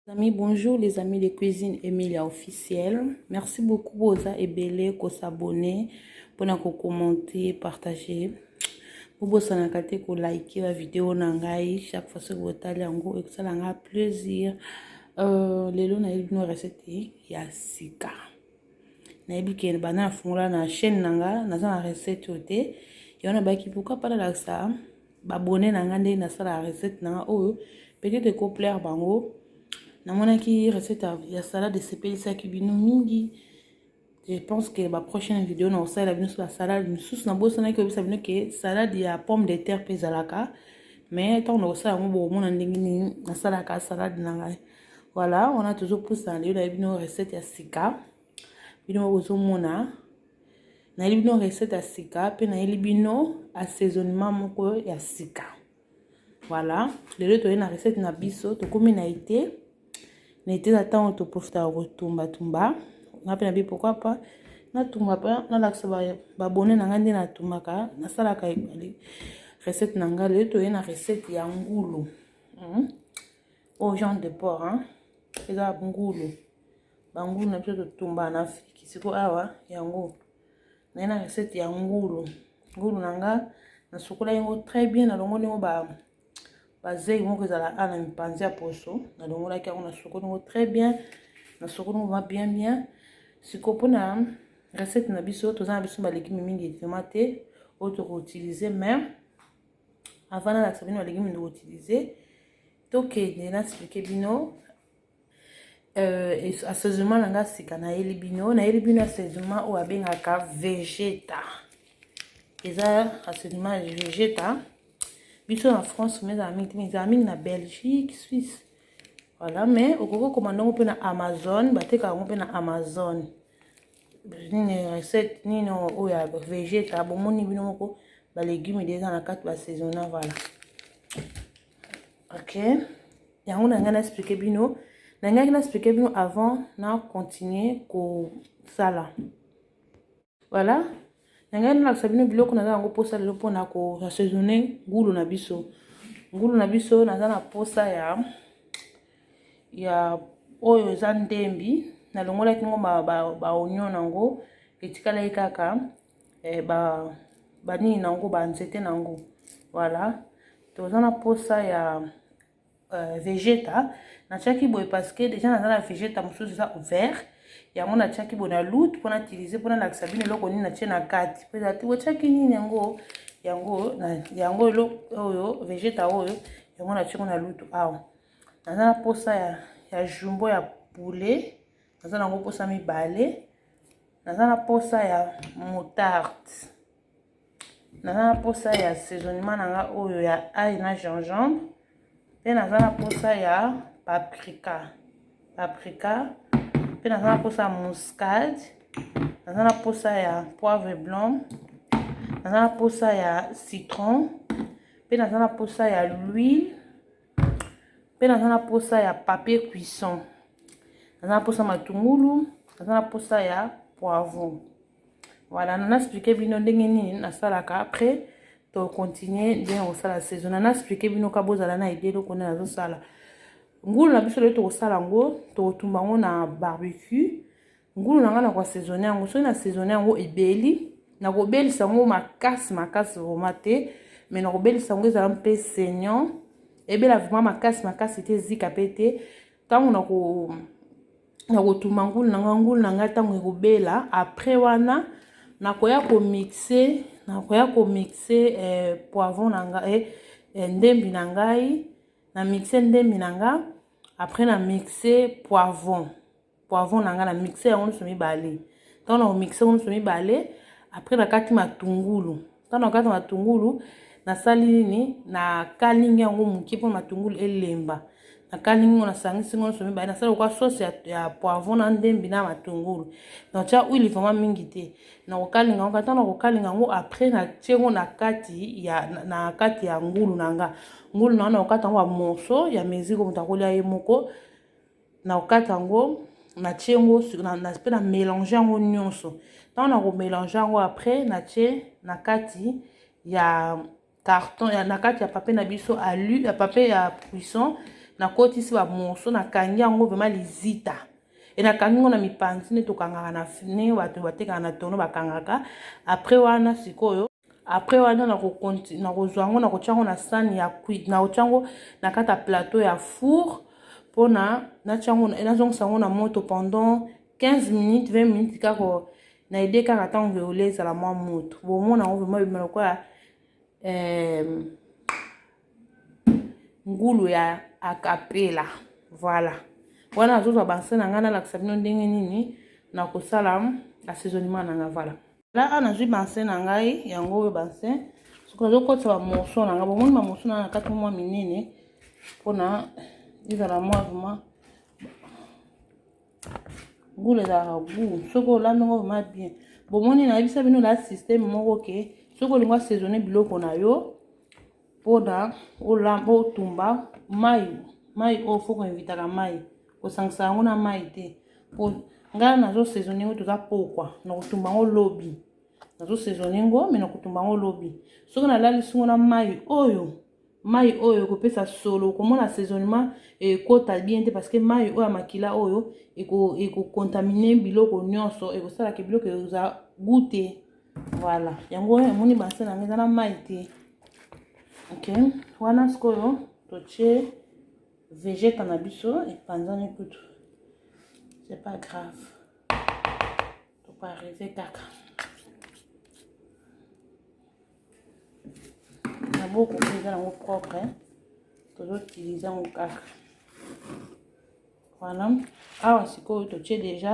Amis, bonjour les amis de cuisine Emilia officielle. Merci beaucoup boza ebele ko s'abonner, pona ko commenter, partager. bobosanaka te kolike bavideo na ngai chaque fois soki botali yango ekosala ngai plaisir euh, lelo nayebi bino recette ya sika nayebi ke banda nafungola na chaîne na ngai naza na recette oyo te yango nabaki pourkui mpa nalakisa babone na ngai ndenge nasalaka recette na ngai oyo peut-être ekoplaire bango namonaki recette ya salade esepelisaki bino mingi je pense que baprochaine video na kosalela bino so basalade mosusu nabosanaki koyebisa bino ke salade ya pomme de terre mpe ezalaka mais ntango na kosala yango bokomona ndenge nini nasalaka salade na ngai voilà wana tozopusana lelo na bino recette ya sika bino bokozomona nayeli bino recette ya sika mpe nayeli bino assaisonnement moko ya sika voilà lelo toyei na recette na biso tokomi na ete na ete na ntango toprofitaka kotumbatumba nga mpe na bi pourkoi pas natumba mpe nalakisa babone na ngai nde natumbaka nasalaka ebale recette na ngai lelo toyei na recette ya ngulu hmm? au genre de port hein? eza ngulu bangulu na biso totumbana na afriki siko awa yango naye na recette ya ngulu ngulu na nga nasukola yango très bien nalongoli yango ba bazei moko ezala a na mipanzi ya poso nalongolaki yango nasukoli yango très bien nasukoli yango ma bien bien siko mpona recette na biso toza na biso balegime mingi etima te oyo tokoutilize mais avant nalakisa bino balegime tokoutilize tokende na explike bino euh, asezuma na nga sika nayeli bino nayeli bino asezuma oyo abengaka vegeta eza asezuma ya vegeta biso na france ma ezala mingi te ma ezala mingi na belgique suisse voilà mais okoki okoma ndongo mpe na amazon bateka yango mpe na amazon nini recette nini oyo ya vegeta bomoni bino moko balegume de eza na kati basaisonna voilà ok yango na ngai na explike bino na ngai na explike bino avant na continue kosala voilà na ngai nalakisa bino biloko naza yango mposa lelo mpona koassaisonne ngulu na biso ngulu na biso naza na mposa ya ya oyo eza ndembi nalongolaki ngo baonio ba, ba na yango etikalaki kaka eh, ba banini na yango banzete na yango voilà toza na mposa ya euh, vegeta natiaki boye parce que déjà naza na vegeta mosusu eza vert yango natiaki boye na loute mpo natilize mpo nalakisa bino eloko nini natie na kati mpo ezalaki otiaki nini yango yango yango oyo vegeta oyo yango natiaki na lutu awa naza na mposa ya, ya jumbo ya poulet naza nango mposa mibale naza na posa ya moutarde naza na posa ya saisonnement na nga oyo ya ail na gingembre mpe naza na posa ya paprika paprika mpe naza na posa ya muscade naza na posa ya poivre blanc naza na posa ya citron mpe naza na posa ya l'huile mpe naza na mposa ya papier cuisson naza na mposa matungulu naza na mposa ya poivron voilà nana explike bino ndenge nini nasalaka après tocontinue ndenge kosala saison nana explike bino ka bozala na ide eloko nde nazosala ngulu na biso loye tokosala yango tokotumba yango na barbecue ngulu na ngai na koasezone yango soki nasezone yango ebeli nakobelisa yango makasi makasi vrema te mai nakobelisa yango ezala mpe saignant ebela vrema makasi makasi te ezika mpe te ntango nako nakotuma ngulu na ngai ngulu na ngai ntango ekobela après wana nakoya komixe nakoya komixe eh, poivron na ngai eh, eh, ndembi na ngai na mixe ndembi na ngai après na mixe poivron poivron na ngai na mixe yango nyonso mibale ntango na komixe yango nyonso mibale après nakati matungulu ntango nakati matungulu nasali nini nakalingi yango moke mpo matungulu elemba nakalingi ngo nasangisi ngo nyonso mibale nasali lokwa sauce ya, ya poivron na ndembi na matungulu natya huile vraimen mingi te nakokalinga yango kata nakokalinga yango après natye ngo na kati ya na kati ya ngulu na nga ngulu na nga nakokata yango bamorso ya mesure moto akolya ye moko na kokata yango natie yango mpe na mélange yango nyonso ntango na komélange yango après natie na kati ya carton ya na kati ya papier na biso alu ya papier ya cuisson nakotisi bamoso nakangi yango vraimen lizita e nakangi yango na mipanzi nde tokangaka na fne bato batekaka na tono bakangaka après wana sikoyo après wana nakozwa yango nakotya yango na sani ya cuit nakotya yango na kati ya plateau ya four mpona natya yango nazongisa yango na moto pendant 15 minutes 20 minutes kaka na ide kaka ntango veole ezala mwa moto bomona yango vraimen ebima lokola ngulu ya akapela voilà wana nazozwa banse na ngai nalakisa bino ndenge nini nakosala assaisonnement na ngai voilà laa nazwi banse na ngai yango oyo banse soki nazokotisa bamoso na ngai bomoni bamoso na na kati mwa minene mpona ezala mwa vrema gula ezalaka gu soki olambi yango vrema bien bomoni nayebisa bino na systeme moko ke soki olingi asaisonne biloko na yo mpona olamba otumba mai mai oyo foko invitaka mai kosangisa yango na mai te mpo ngai nazosaisone yango toza pokwa nakotumba yango lobi nazosaisone yango me nakotumba yango lobi soki nalalisi yango na mai oyo mai oyo ekopesa solo okomona saisonnement ekota bien te parce que mai oyo ya makila oyo ekokontamine biloko nyonso ekosalaka biloko ekozala goute voilà yango omoni base na ngai eza na mai te ok wana sikoyo totie vegeta na biso epanzani kutu c'est pas grave tokoarrive kaka na boko eza yango propre tozotilize yango kaka voilà awa sikoyo totie déjà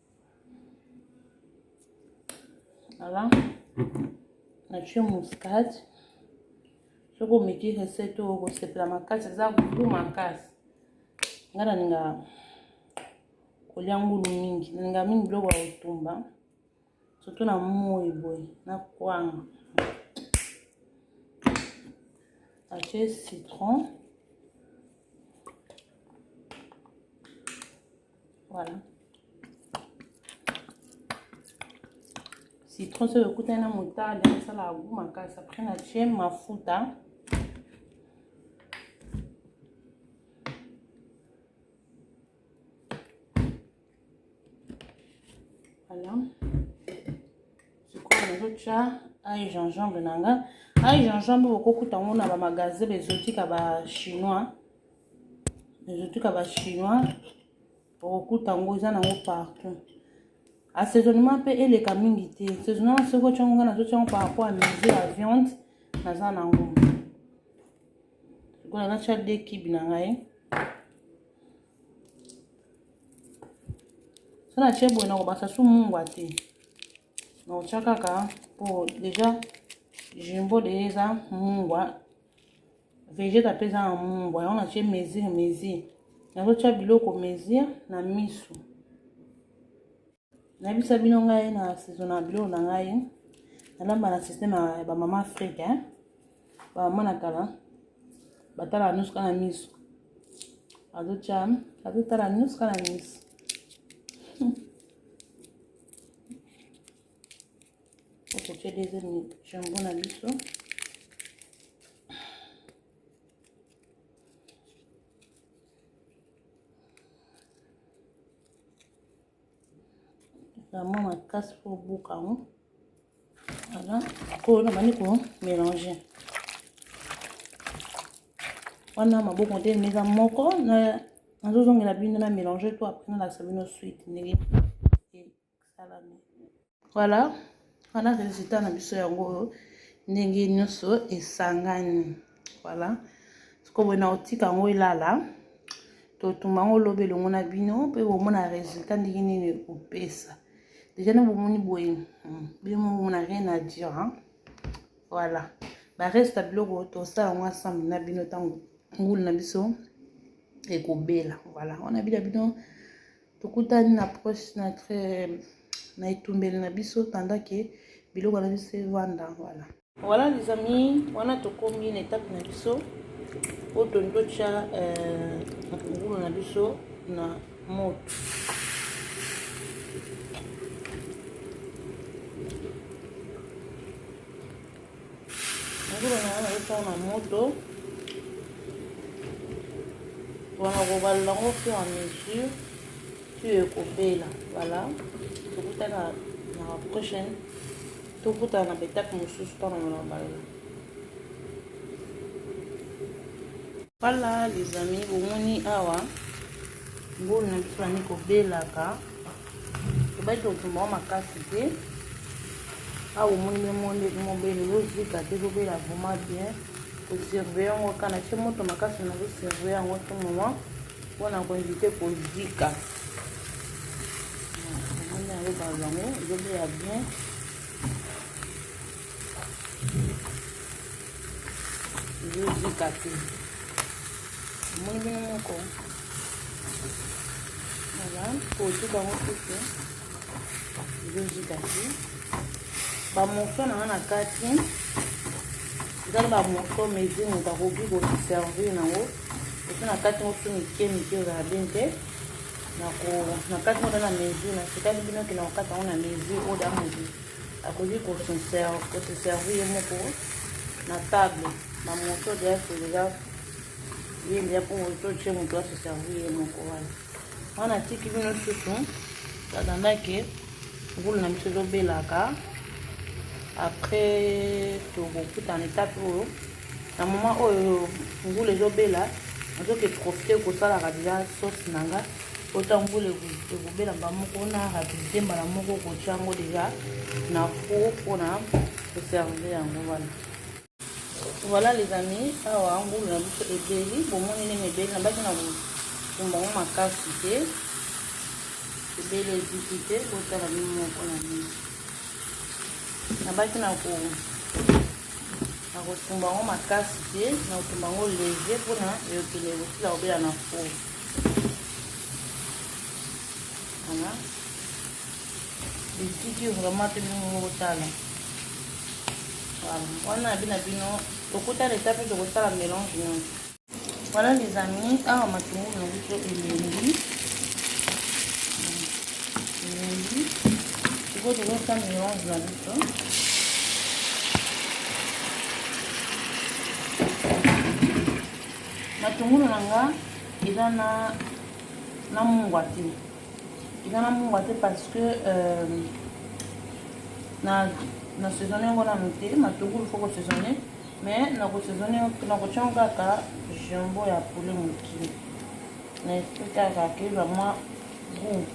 Voilà. Nature muscade. Soki omeki recette oyo okosepela makasi eza goût makasi. Nga nalinga kolia ngulu mingi. Nalinga mingi biloko ya kotumba. Surtout na moi boye na kwanga. Acheter citron. Voilà. Citron soki okutani na moutarde esalaka goût makasi. Après na tie mafuta. Voilà. Sikoyo nazotya ail gingembre na nga. Ail gingembre okokuta yango na bamagasin bezotika ba chinois. ezotika ba chinois okokuta yango eza nango partout assaisonnement mpe eleka mingi te saisonnement soki otyango nga nazotyango par rapport ya mise ya viande naza nango sikoyo natya de kibi na ngai so natye boye nakobasa su mungwa te nakotya kaka mpo deja jumbo deja eza mungwa vegete ape eza na mungwa yango natie mesure mesure nazotya biloko mesure na miso nayebisa bino ngai na saison na biloko na ngai nalamba na systeme ya bamama afrika eh? bamama na kala batala nusuka na miso azotya azotala nusuka na miso okotia deuxième jambon na biso vraiment makasi mpo obuka yango voilà koyo nabandi komélange wana maboko ntelemi eza moko nazozongela bino na mélange to apres nalakisa bino suite ndenge Voilà, wana resultat na biso yango oyo ndenge nyonso esangani. Voilà, sikoyo boye nakotika yango elala, totumba yango lobi elongo na bino mpe bomona resultat ndenge nini ekopesa. Deja na bomoni boye hmm, bino momona rien à dire hein? Voilà, bareste ya biloko tosala yango ensemble na bino ntango ngulu na biso ekobela. Voilà, wana bila bino tokutani na proche na na etumbeli na biso pendant que biloko na biso evanda voilà voilà les amis wana tokomi na etape na biso oyo toni totya ngulu euh, na biso na moto Ngulu na yango nazotia na moto wana kobalela yango fur à mesure tu ekobela voilà tokutana na prochaine tokutana na betake mosusu mpona mona balela Voilà les amis, bomoni awa mbulu na biso bandi kobelaka tobaki kotumba yango makasi te awa omoni memonde mobele ezozika te ezobela vraiment bien kosurveille yango kaka na tie moto makasi na kosurveille yango tout moment mpona koinvite kozika omoni yango balango ezobela bien ezozika te omoni bino moko voilà kotuka yango kutu ezozika te bamorso na nga na kati ezali bamorso mesure moto akoki koservir nango esi na kati mosu mike mike ozala bien te na kati moto na mesure natikali bino kina kokata yango na mesure oyo da moto akoki koseservi ye moko na table na moto deya tolela ye ndeya mpo totie moto aseservi ye moko wana wana atiki bino susu tadandake ngulu na biso ezobelaka après tokokutana etape oyo na moma oyo mbula ezobela nazoki profite kosalaka deja sauce na nga ota mbula ekobela mbala moko na rapidite mbala moko kotya yango deja na four mpona koserve yango wana voilà les amis awa mbula na biso ebeli bomoni ndenge ebeli nabaki na kotumba yango makasi te ebeli eziki te botala bino moko na bino nabaki na ko nakotumba yango makasi te nakotumba yango leger mpona eyokende ekosila kobela na fo wana litiki vraiment te bino moko kotala wana na bino na bino tokutana eta mpe tokosala melange nyonso Voilà les amis, awa matungulu na biso elengi elengi, sikoyo tokosala melange na biso matungulu na nga eza na na mungwa te eza na mungwa te parce que euh, na na saisonne yango nanu te matungulu foko saisonne Mais na ko saisonner na ko tion kaka jambon ya poulet mokie. Na esprit kaka que ba mwa goût.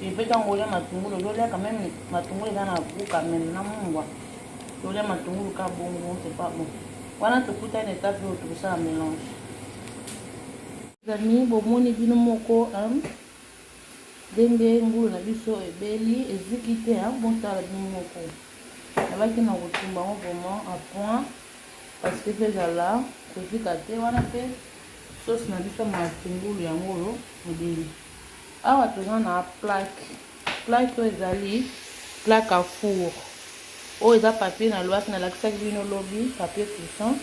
Et peut tango olia matungulu ozo lia quand même matungulu eza na goût quand même na mungwa. Olia matungulu ka bongo c'est pas bon. Wana tokuta na étape oyo tokosala mélange. Amis, bomoni bino moko hein? Ndenge ngulu na biso ebeli, eziki te hein, botala bino moko. Nabaki na kotumba yango vraiment à point parce que pe ezala kozika te wana pe sauce na biso matungulu yango oyo ebeli. Awa toza na plaque. Plaque oyo ezali plaque à four. Oyo eza papier na loaki na lakisaki bino lobi papier cuisson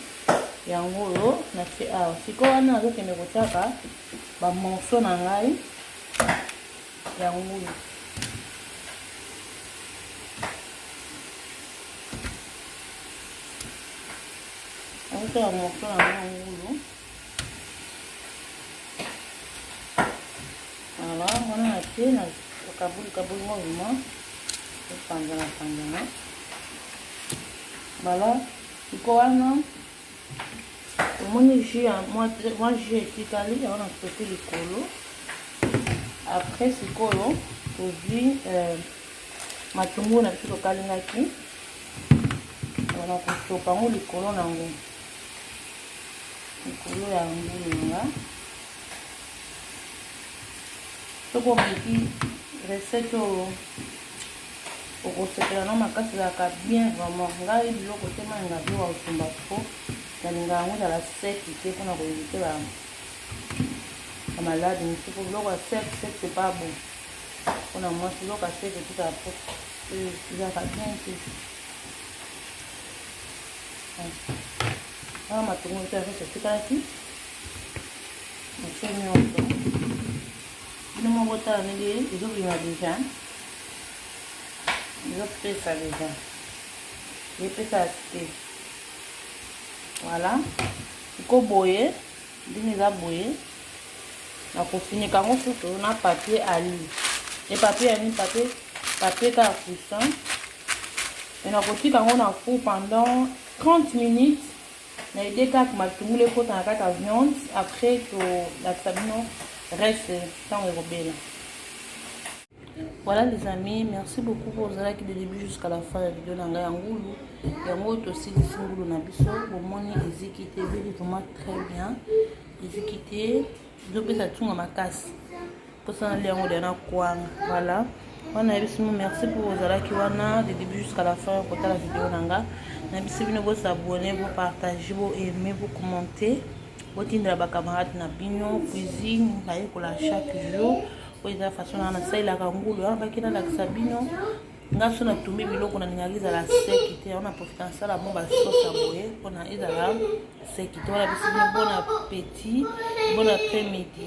yango oyo na se awa. Sikoyo wana nazokende kotiaka ba morceaux na ngai ya ngulu auta ya morceau na ngai ya ngulu ala wana na te na kabuli kabuli ngo vraiment epanzana panzana bala iko wana omoni jus ya mwa jus etikali yango na soki likolo après sikoyo tozwi euh, matungulu na biso tokalingaki wana kosopa yango likolo na yango likolo ya ngulunga soki omeki recette oyo okosepela na makasi ezalaka bien vraiment ngai biloko te mai nga biloko ya kosumba po nalinga yango ezala seki te mpona koevite bamalade mosusu po biloko ya sek sek te pa bon mpona mwasi biloko ya seki etikala po euh, ezalaka bien te wana matongo ete azosa etikaki mosusu nyonso Bino moko tala ndenge ezobima deja, ezopesa deja, epesa te. Voilà, iko boye ndenge eza boye, nakofinika yango susu na papier ali e papier ya nini? Papier papier kaka cuisson, e nakotika yango na four pendant 30 minutes. na idee kaka matungulu ekota na kati ya viande après tolakisa bino reste ntango ekobela voilà les amis merci beaucoup mpo ozalaki de début jusqu'à la fin ya video na ngai ya ngulu yango oyo tosilisi ngulu na biso bomoni eziki te ebeli vraiment très bien eziki te ezopesa ntunga makasi mposa nalia yango deya na kwanga voilà wana nayebisi bino merci mpo ozalaki wana de début jusqu'à la fin kotala video na nga nayebisi bino bosabone bopartage boaime bocommente botindela bacamarade na bino cuisine nayekola chaque jour oyo eza façon na nasalelaka ngulu wana bakina lakisa bino nga so natumbi biloko nalingaka ezala seki te yango naprofita nasala mo basosi ya boye mpona ezala seki te wana bisini bon appetit bon après midi